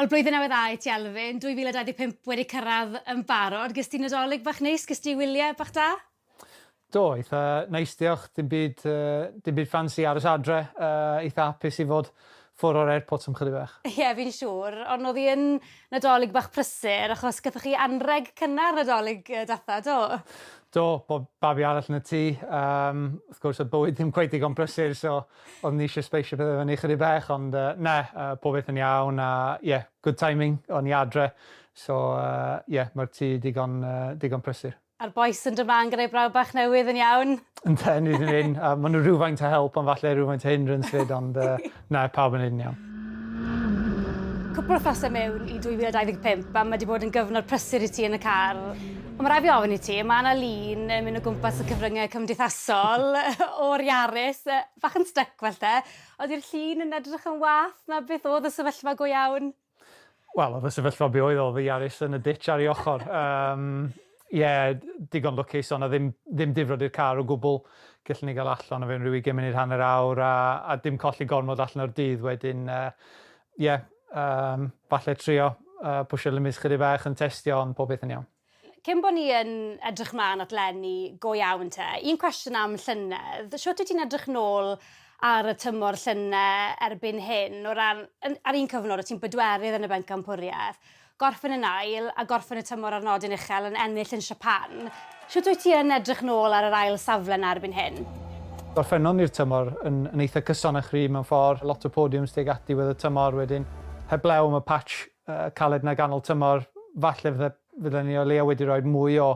Wel Blwyddyn Newydd Dda i ti Elfyn, 2025 wedi cyrraedd yn barod, ges ti Nadolig bach neis, ges ti wyliau bach da? Do, eitha neis diolch, dim byd yy dim byd ffansi, aros adre, yy eitha hapus i fod ffwr o'r airport am chydig bach. Ie fi'n siŵr, ond o'dd 'i yn Nadolig bach prysur achos gathoch chi anrheg cynnar Nadolig yy datha, do? Do, bo- babi arall yn y tŷ, yym wrth gwrs o'dd bywyd ddim cweit digon prysur so Oeddwn i eisiau sbeisio pethau fyny ychydig bach ond yy na, yy pob beth yn iawn a ie, good timing, o'n i adre so yy ie, mae'r tŷ digon yy digon prysur. A'r bois yn dod mlan gyda'i brawd bach newydd yn iawn? Yndyn, ni 'di mynd, a maen nhw rhywfaint o help ond falle rhywfaint o hindrance 'fyd ond yy na, pawb yn neud yn iawn. Cwpl o wythnose mewn i 2025 a mae 'di bod yn gyfnod prysur i ti yn y car. Ond mae rhaid fi ofyn i ti, mae 'na lun yn mynd o gwmpas y cyfryngau cymdeithasol o'r Yaris, bach yn styc falle. Ydi'r llun yn edrych yn wath na beth oedd y sefyllfa go iawn? Wel, oedd y sefyllfa be oedd o, oedd y Yaris yn y ditch ar ei ochr. Yym, ie, digon lwcus, oedd 'na ddim ddim difrod i'r car o gwbl. Gellon ni gael allan o fe yn rhyw ugain munud, hanner awr, a a dim colli gormod allan o'r dydd wedyn. Yy, Ie, yym, falle trio yy pwsio limits chydig bach yn testio ond pob peth yn iawn. Cyn bo ni yn edrych mlan at leni go iawn te, un cwestiwn am llynedd, shwt wyt ti'n edrych nôl ar y tymor llyne erbyn hyn o ran yn ar un cyfnod o' ti'n bedwerydd yn y bencampwrieth, Gorffen yn ail, a gorffen y tymor ar nodyn uchel yn ennill yn Siapan. Shwt wyt ti yn edrych nôl ar yr ail safle 'na erbyn hyn? Gorffennon ni'r tymor yn yn eitha cyson a chryf mewn ffordd, lot o podiums tuag at diwedd y tymor wedyn. Heblaw am y patch caled 'na ganol tymor, falle fydde fydden ni o leia wedi rhoi'r mwy o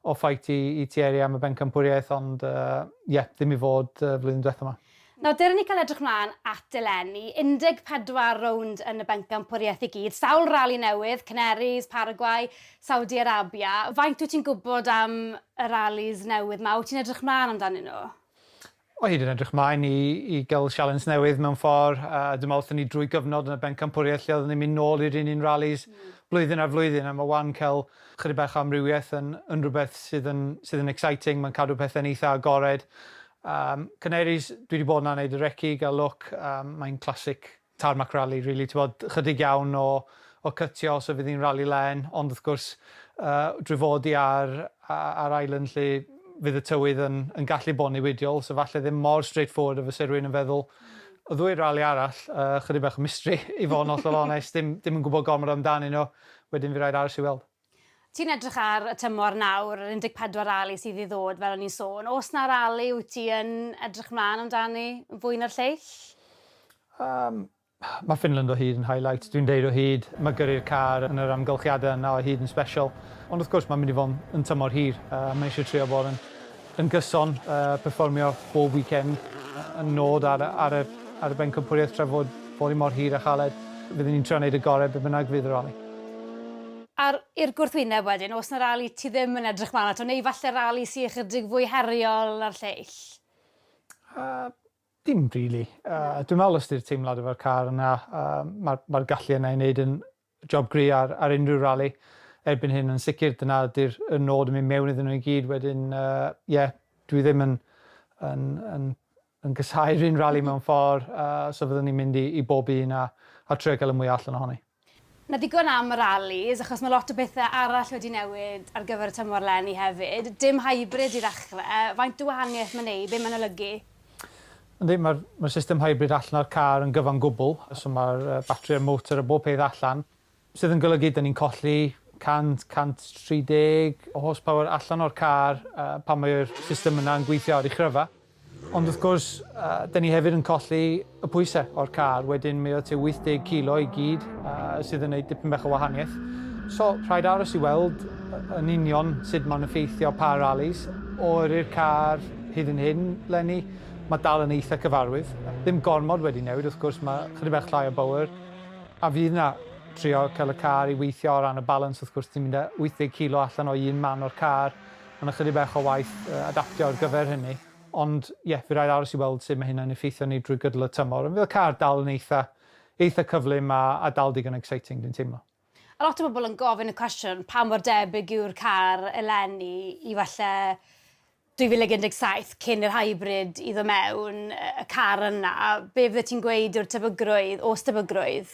o fight i i Thierry am y bencampwriaeth ond yy ie, ddim i fod y flwyddyn dwetha 'ma. Nawr, dere ni cael edrych mlaen at eleni. 14 rownd yn y Bencampwriaeth i gyd, sawl rali newydd, Canaries, Paraguay, Saudi Arabia. Faint wyt ti'n gwybod am y ralis newydd 'ma? Wyt ti'n edrych mlaen amdanyn nhw? O hyd yn edrych mlaen i i gael sialens newydd mewn ffordd. Yy dwi'n meddwl wrthyn ni drwy gyfnod yn y Bencampwriaeth lle oedden ni'n mynd nôl i'r un un ralis blwyddyn ar flwyddyn a ma' 'wan cael chydig bach o amrywiaeth yn yn rhywbeth sydd yn sydd yn exciting, mae'n cadw pethe'n eitha agored Yym canaries dwi di bod na neud y reci gal look yym mae'n classic tarmac rali rili t'bod chydig iawn o o cytio os fydd hi'n rali len ond wrth gwrs yy drwy fod i ar yy ar island lle fydd y tywydd yn yn gallu bod newidiol so falle ddim mor straight forward a fyse rywun yn feddwl y ddwy rali arall yy chydig bach o mystery i fod yn hollol onest dim dim yn gwbod gormod amdanyn nhw wedyn fy raid aros i weld. Ti'n edrych ar y tymor nawr, yr 14 rali sydd i ddod fel o'n i'n sôn. Oes 'na rali wyt ti yn edrych mlaen amdani fwy na'r lleill? Yym ma' Finland o hyd yn highlight, dwi'n deud o hyd, ma' gyrru'r car yn yr amgylchiadau yna o hyd yn special. Ond wrth gwrs mae'n mynd i fod yn tymor hir a mae eisiau trio bod yn Yn gyson, perfformio bob weekend yn nod ar y bencampwriaeth tra fod fory mor hir a chaled. Fydden ni'n trio neud y gore be bynnag fydd y rali. Ar i'r gwrthwyneb wedyn, oes 'na rali ti ddim yn edrych mlan ato, neu falle rali sy ychydig fwy heriol na'r lleill? Dim rili. Dwi'n meddwl os 'di'r teimlad efo'r car yna, ma'r gallu yna i neud yn Job gry ar ar unrhyw rali erbyn hyn yn sicr dyna ydy'r y nod yn mynd mewn iddyn nhw i gyd wedyn yy ie dwi ddim yn yn yn yn casau'r un rali mewn ffor yy so fyddwn ni'n mynd i i bob un a a trio cael y mwya allan ohoni. Na ddigon am y ralis achos ma lot o bethe arall wedi newid ar gyfer y tymor leni hefyd. Dim hybrid i ddechre, faint o wahaniaeth ma'n neud, be ma'n olygu? Yndi, mae'r mae'r system hybrid allan o'r car yn gyfan gwbl, so mae'r yy batri a'r motor a bob peth allan, sydd yn golygu 'dan ni'n colli 100, 130 o horsepower allan o'r car yy pan mae'r system yna'n gweithio ar ei chryfa. Ond wrth gwrs, yy 'dan ni hefyd yn colli y pwyse o'r car, wedyn mae o tua 80 kilo i gyd yy sydd yn neud dipyn bach o wahaniaeth. So rhaid aros i weld y- yn union sud ma'n effeithio pa rallies. O yrru'r car hyd yn hyn 'leni, Mae dal yn eitha cyfarwydd. Ddim gormod wedi newid wrth gwrs, mae chydig bach llai o bowr a fydd 'na trio cael y car i weithio o ran y balans wrth gwrs ti'n mynd â 80 kilo allan o un man o'r car, mae 'na chydig bach o waith adaptio ar gyfer hynny. Ond ie, fy rhaid aros i weld sut mae hynna'n effeithio arni drwy gydol y tymor. Ond fydd y car dal yn eitha eitha cyflym a a dal digon exciting dwi'n teimlo. A lot o bobl yn gofyn y cwestiwn, pa mor debyg yw'r car eleni i falle 2017, cyn i'r hybrid iddo mewn, y car yna, be fyddet ti'n gweud yw'r tebygrwydd, o's tebygrwydd?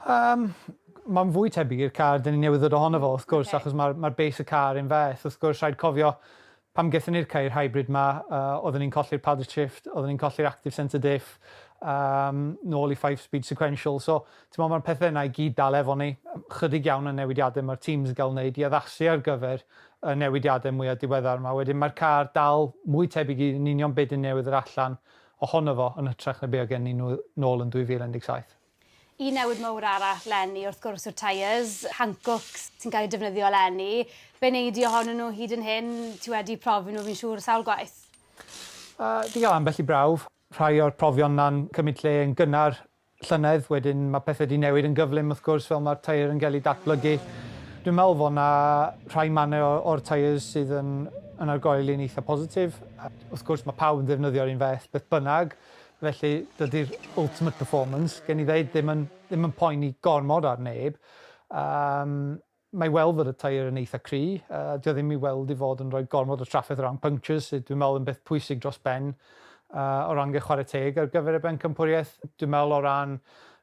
Yym, mae'n fwy tebyg i'r car 'dyn ni newydd ddod ohono fo, wrth gwrs, achos mae'r base y car un fath. Wrth gwrs, rhaid cofio, Pam gaethon ni'r ceir hybrid 'ma? Oedden ni'n colli'r padded shift, oedden ni'n colli'r active centre diff, yym, nôl i five speed sequential. So, t'mod, ma'r pethe yna i gyd dal efo ni. Chydig iawn o newidiade ma'r teams yn ga'l wneud i addasu ar gyfer y newidiade mwya diweddar 'ma. Wedyn ma'r car dal mwy tebyg i yn union be' 'dyn ni newydd ddod allan ohono fo yn hytrach na be' oedd gennyn nw nôl yn 2017. Un newid mawr arall leni wrth gwrs yw'r tyres, Hankooks, sy'n cael eu defnyddio eleni. Be wnei di ohonyn nhw hyd yn hyn? Ti wedi profi nhw fi'n siŵr sawl gwaith. Yy, 'di gael ambell i brawf. Rhai o'r profion 'na'n cymryd lle yn gynnar llynedd, wedyn ma' pethe 'di newid yn gyflym wrth gwrs fel ma'r tyre yn ga'l 'i datblygu. Dwi'n meddwl fo' 'na rhai mannau o o'r tyres sydd yn yn argoeli'n eitha positif. Wrth gwrs ma' pawb yn ddefnyddio'r un feth beth bynnag. Felly, dydy'r ultimate performance, gen i ddeud, ddim yn, ddim yn poeni gormod ar neb. Um, mae i weld fod y tair yn eitha cry. Uh, dio ddim i weld i fod yn rhoi gormod o trafferth o ran punctures, sydd dwi'n meddwl yn beth pwysig dros ben uh, o ran gael chwarae teg ar gyfer y bencampwriaeth. Dwi'n meddwl o ran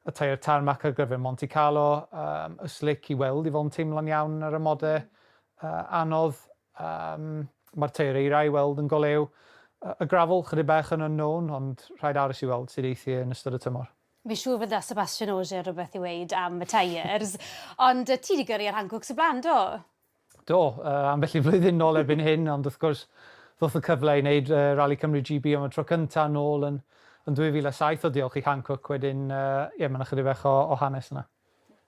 y tair tarmac ar gyfer Monte Carlo, um, y slic i weld i fod yn teimlo'n iawn ar y mode uh, anodd. Yym, mae'r tair eira i weld yn golew y gravel, chydig bach yn unknown, ond rhaid aros i weld sut eith hi yn ystod y tymor. Fi'n siŵr fydda Sebastian Ogier rhywbeth i weud am y tyres, ond yy ti 'di gyrru ar Hancwcs o blaen, do? Do, yy ambell i flwyddyn nôl erbyn hyn, ond wrth gwrs ddoth y cyfle i wneud yy Rali Cymru GB am y tro cynta' nôl yn yn 2007 o diolch i Hankook wedyn yy ie ma' 'na chydig bach o o hanes yna.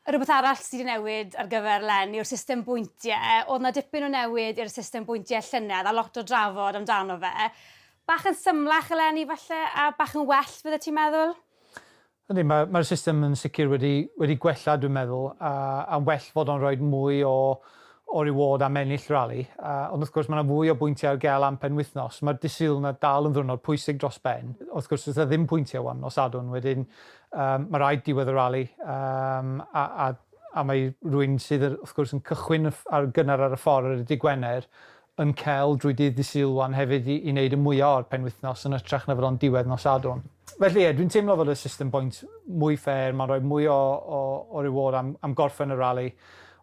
Rhywbeth arall sydd wedi newid ar gyfer Len yw'r system bwyntiau. Oedd 'na dipyn o newid i'r system bwyntiau llynedd a lot o drafod amdano fe. Bach yn symlach eleni falle a bach yn well fyddet ti'n meddwl? Yndi, mae mae'r system yn sicr wedi wedi gwella dwi'n meddwl a a'n well fod o'n rhoid mwy o o reward am ennill rali. A, ond wrth gwrs mae yna fwy o bwyntiau ar gael am penwythnos. Mae'r Dydd Sul 'na dal yn ddiwrnod pwysig dros ben. Wrth gwrs does 'na ddim pwyntiau wan nos Sadwrn wedyn Mae rhaid diwedd y rali a mae rwy'n sydd wrth gwrs yn cychwyn ar gynnar ar y ffordd ar y dydd Gwener yn cael drwy dydd Dydd Sul wan hefyd i wneud y mwya o'r penwythnos yn ytrach na fod o'n diwedd nos Sadwrn. Felly ie, dwi'n teimlo fod y system bwynt mwy ffêr, mae'n rhoi mwy o reward am gorffen y rali,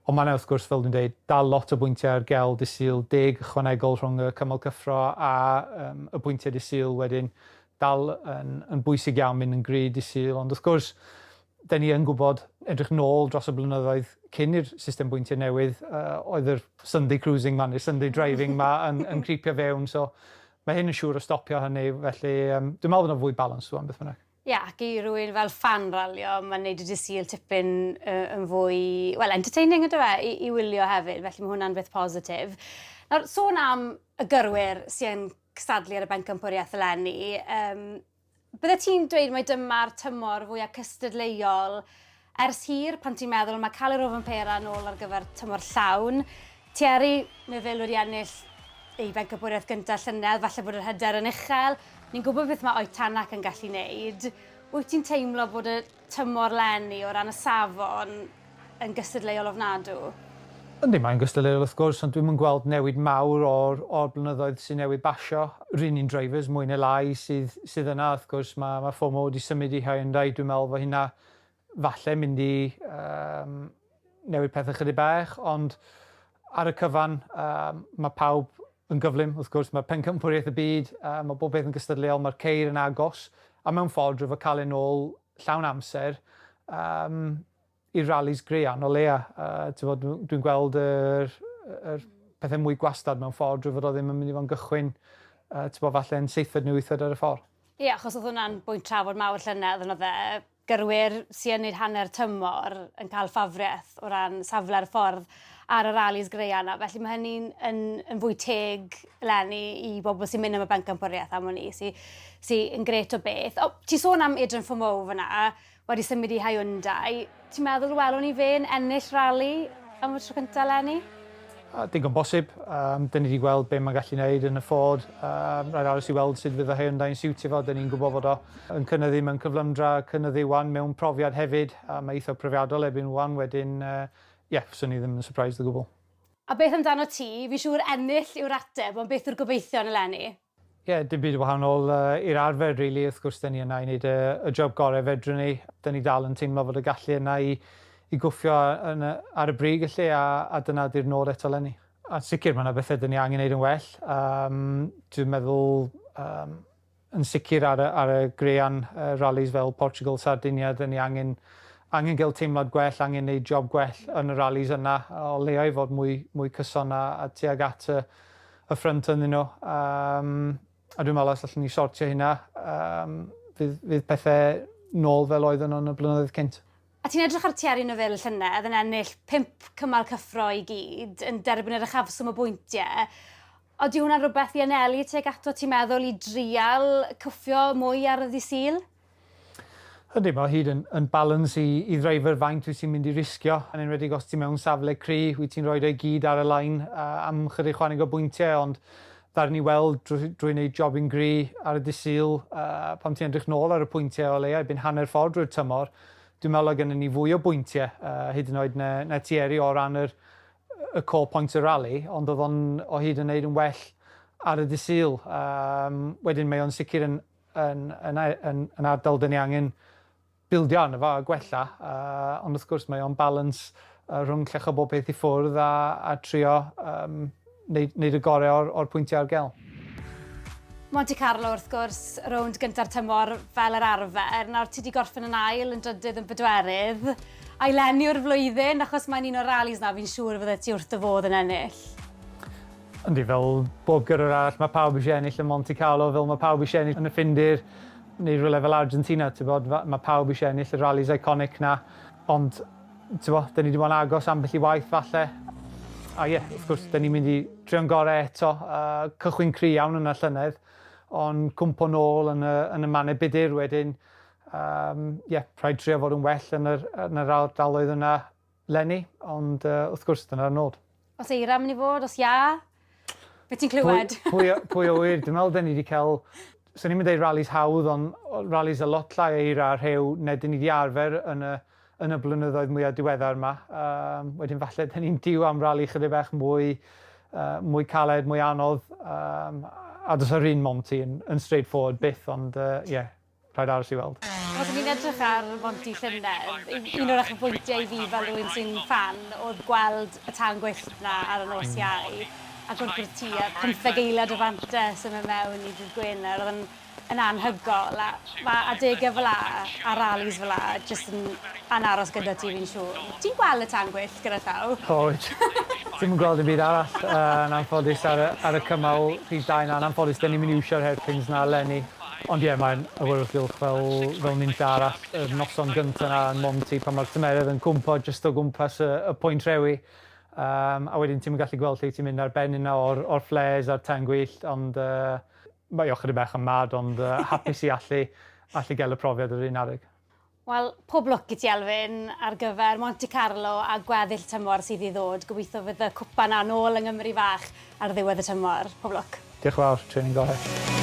ond mae yna wrth gwrs, fel dwi'n dweud, dal lot o bwyntiau ar gael Dydd Sul, deg ychwanegol rhwng y cymal cyffro a y pwyntiau Dydd Sul wedyn, dal yn yn bwysig iawn mynd yn gry dy sul ond wrth gwrs dyn ni yn gwybod edrych nôl dros y blynyddoedd cyn i'r system bwyntiau newydd uh, oedd yr Sunday cruising ma neu Sunday driving ma yn, yn creepio fewn so mae hyn yn siŵr o stopio hynny felly um, dwi'n meddwl bod yna fwy balans rwan beth bynnag. Ie, yeah, ac i rwy'n fel fan ralio, mae'n neud y dy sul tipyn uh, yn fwy, well, entertaining ydw e, i, i wylio hefyd, felly mae hwnna'n beth positif. Nawr, sôn am y gyrwyr sy'n cystadlu ar y Bencampwriaeth eleni. Um, bydde ti'n dweud mai dyma'r tymor fwyaf cystadleuol ers hir pan ti'n meddwl mae cael yr ofyn pera yn ôl ar gyfer tymor llawn. Thierry Neville wedi ennill ei Bencampwriaeth gyntaf llynedd, falle bod yr hyder yn uchel. Ni'n gwybod beth mae Oetanac yn gallu wneud. Wyt ti'n teimlo bod y tymor 'leni o ran y safon yn gystadleuol ofnadw? Yndi, mae'n gystadleuol wrth gwrs, ond dwi'm yn gweld newid mawr o'r o'r blynyddoedd sy'n newydd basio. R'un un drivers, mwy neu lai, sydd sydd yna, wrth gwrs, mae ma' FOMO wedi symud i Hyundai, dwi'n meddwl fo' hynna falle mynd i yym newid pethau chydig bach, ond ar y cyfan mae pawb yn gyflym, wrth gwrs, mae pencampwriaeth y byd, mae bob peth yn gystadleuol, mae'r ceir yn agos, a mewn ffordd rwyf a cael yn ôl llawn amser i'r rallis graean o leia. Dwi'n gweld yr pethau mwy gwastad mewn ffordd drwy fod o ddim yn mynd i fod yn gychwyn falle yn seithfed neu wythfed ar y ffordd. Ie, achos oedd hwnna'n bwynt trafod mawr llynedd, yn oedd e? gyrwyr sy yn neud hanner tymor yn cael ffafriaeth o ran safle'r ffordd ar y ralis graean 'na. Felly mae hynny'n yn, yn fwy teg lenni i bobl sy'n mynd am y bencampwriaeth am hwn i, sy, sy yn gret o beth. O, ti sôn am Adrian Fomow fyna, wedi symud i Hyundai. Ti'n meddwl welwn ni fe'n ennill rali am y tro cyntaf lenni? Digon bosib. Yym, 'dyn ni 'di gweld be' mae'n gallu neud yn y Ford. Yym, rhaid aros i weld sud fydd y haearn dda'n siwtio fo, 'dyn ni'n gwbo fod o yn cynyddu mewn cyflymdra, cynyddu ŵan mewn profiad hefyd, a mae eitha profiadol erbyn ŵan, wedyn, yy, ie, fyswn i ddim yn surprised o gwbwl. A beth amdanot ti? Fi'n siŵr ennill yw'r ateb, ond beth yw'r gobeithion eleni? Ie, dim byd yn wahanol i'r arfer rili, wrth gwrs 'da ni yna i wneud y job gorau fedrwn ni. 'Da ni dal yn teimlo fod y gallu yna i i gwffio yn y ar y brig felly a a dyna ydy'r nod eto 'lenni. Yn sicr ma' 'na bethe 'da ni angen neud yn well yym dwi'n meddwl yym yn sicr ar y ar y graean y ralis fel Portugal Sardinia 'da ni angen angen ga'l teimlad gwell angen neud job gwell yn y ralis yna o leia i fod mwy mwy cyson a a tuag at y y ffrynt ynddyn nhw yym a dwi'n meddwl os allwn ni sortio hynna yym fydd fydd pethe nôl fel oedden nhw yn y blynyddoedd cynt. A ti'n edrych ar Thierry Neuville llynedd yn ennill pump cymal cyffro i gyd, yn derbyn yr uchafswm o bwyntie. Odi hwnna'n rhywbeth i anelu tuag ato ti'n meddwl i drial cwffio mwy ar y ddydd Sul? Yndi, mae o hyd yn yn balans i i ddreifr faint wyt ti'n mynd i risgio, yn enwedig os ti mewn safle cry, wyt ti'n rhoid o'i gyd ar y line uh, am chydig chwaneg o bwyntiau, ond ddaru ni weld drwy, drwy wneud job yn gry ar y disyl, uh, pam ti'n edrych nôl ar y pwyntiau o leia, byn hanner ffordd drwy'r tymor, dwi'n meddwl o gennym ni fwy o bwyntiau, uh, hyd yn oed na, na Thierry o ran yr, y core points y rally, ond oedd o'n o hyd yn wneud yn well ar y disyl. Um, wedyn mae o'n sicr yn yn yn yn yn ardal dyn ni angen bildio arno fo a gwella a ond wrth gwrs mae o'n balans uh, rhwng llecho bob peth i ffwrdd a, a trio um, neud, neud y gorau o'r, or pwyntiau ar gel. Monte Carlo wrth gwrs, rownd gyntaf tymor fel yr arfer. Nawr ti wedi gorffen yn ail, yn drydydd, yn bedwerydd. A'i lenni o'r flwyddyn, achos mae'n un o'r rallies na fi'n siŵr fydde ti wrth dy fodd yn ennill. Yndi, fel bob gyrrwr arall, mae pawb eisiau ennill y Monte Carlo, fel mae pawb eisiau ennill yn y Ffindir, neu rhywle fel Argentina, tibod, mae pawb eisiau ennill y rallies iconic 'na, ond, tibod, 'dyn ni 'di bod yn agos ambell i waith, falle, a ie, wrth gwrs, 'dyn ni'n mynd i trio'n gorau eto, cychwyn cry' iawn yna llynedd, ond cwmpo nôl yn y, yn y mannau budr wedyn, ie, rhaid trio fod yn well yn yr, yn yr ardaloedd yna. Leni, ond yy wrth gwrs dyna'r nod. Os eira yn mynd i fod, os ia, be ti'n clywed? Pwy, pwy, pwy o wir, dwi'n meddwl dyn ni wedi cael, swn i'n mynd ei rallies hawdd, ond rallies a lot llai eira a rhew neu dyn ni wedi arfer yn y, yn y blynyddoedd mwyaf diweddar yma. Um, wedyn falle dyn ni'n diw am ralli chydig bach mwy, uh, mwy caled, mwy anodd, um, a dos yr un mom ti yn, yn straightforward byth, ond ie, uh, yeah, Rhaid aros i weld. Os o'n i'n edrych ar Monty llynedd, un o'r uchafbwyntiau i fi fel rhywun sy'n ffan oedd gweld y tân gwyllt 'na ar y nos Iau. Agor bwrdd tŷ a phymtheg eiliad o fantes yn mynd mewn i dydd Gwener. Oedd e'n yn anhygoel a ma' adegau fel 'a a rallies fel 'a jyst yn yn aros gyda ti fi'n siŵr. Ti'n gweld y tân gwyllt gyda llaw? O wyt. Ti'm yn gweld dim byd arall yn anffodus ar y ar y cymal rhif dau 'na. Yn anffodus 'dyn ni'm yn iwsio'r hairpins 'na eleni. Ond ie, mae'n awyrgylch fel fel ninlle arall. Yr noson gynta 'na yn Monty pan mae'r tymeredd yn cwmpo jyst o gwmpas y y pwynt rhewi yym a wedyn ti'm yn gallu gweld lle ti'n mynd ar ben un o'r o'r flares a'r tân gwyllt ond yy mae o chydig bach yn mad ond yy hapus i allu allu gael y profiad yr un adeg. Wel, pob lwc i ti Elfyn ar gyfer Monte Carlo a gweddill y tymor sydd i ddod. Gobeithio fydd y cwpan yna nôl yng Nghymru fach ar ddiwedd y tymor. Pob lwc. Diolch yn fawr, training gorau.